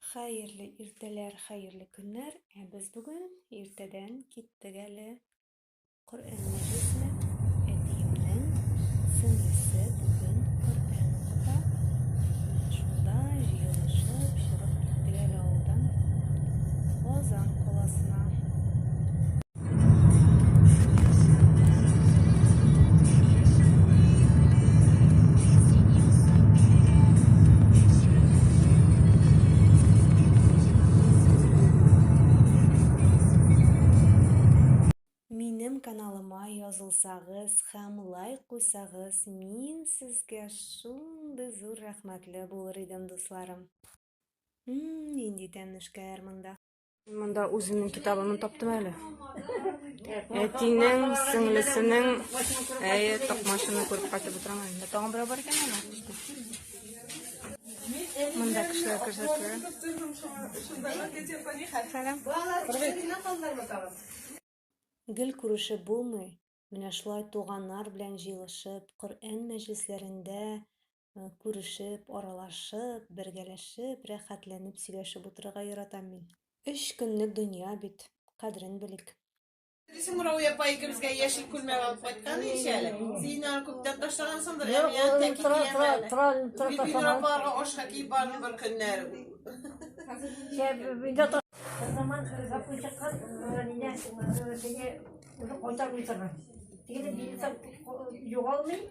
Хәерле иртәләр, хәерле көннәр. Ә без бүген иртәдән киттек әле. Коръән мәҗлесенә әтиемнең сеңлесе бүген Коръән укыта. Шунда җыелышып чыгып киттек әле авылдан Казан каласына. язылсагыз һәм лайк куйсагыз мин сезгә шундый зур рәхмәтле булыр идем дусларым нинди тәмлешкәләр монда Монда үземнең китабымны таптым әле. Әтинең, сеңлесенең, әйе, токмашыны күреп кайтып утырам әле. Тагын берәү бар икән ана. Монда кешеләр күрсәтелә. Сәлам. Гел күрешеп булмый. Менә шулай туганнар белән җыелышып, Коръән мәҗлесләрендә Э, күрешеп, аралашып, бергәләшеп, рәхәтләнеп сөйләшеп утырырга яратам мин. Өч көнлек дөнья бит, кадерен белик. Дисең Мурауи апа икебезгә яшел күлмәк алып кайткан ич әле. Син аны күптән ташлагансыңдыр, ә миңа тәки киемле. Гөлфинур апаларга ашка киеп бардым бер көннәр. Заман запой чыккан, менә сине уже кайтармый торган. Тегене билет югалмый,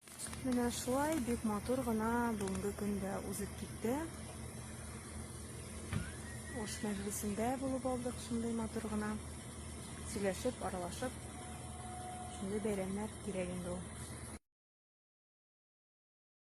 Менә шулай бик матур гына бүгенге көн дә узып китте. Ош мәҗлесендә булып алдык шундый матур гына. Сөйләшеп, аралашып. Шундый бәйрәмнәр кирәк инде ул.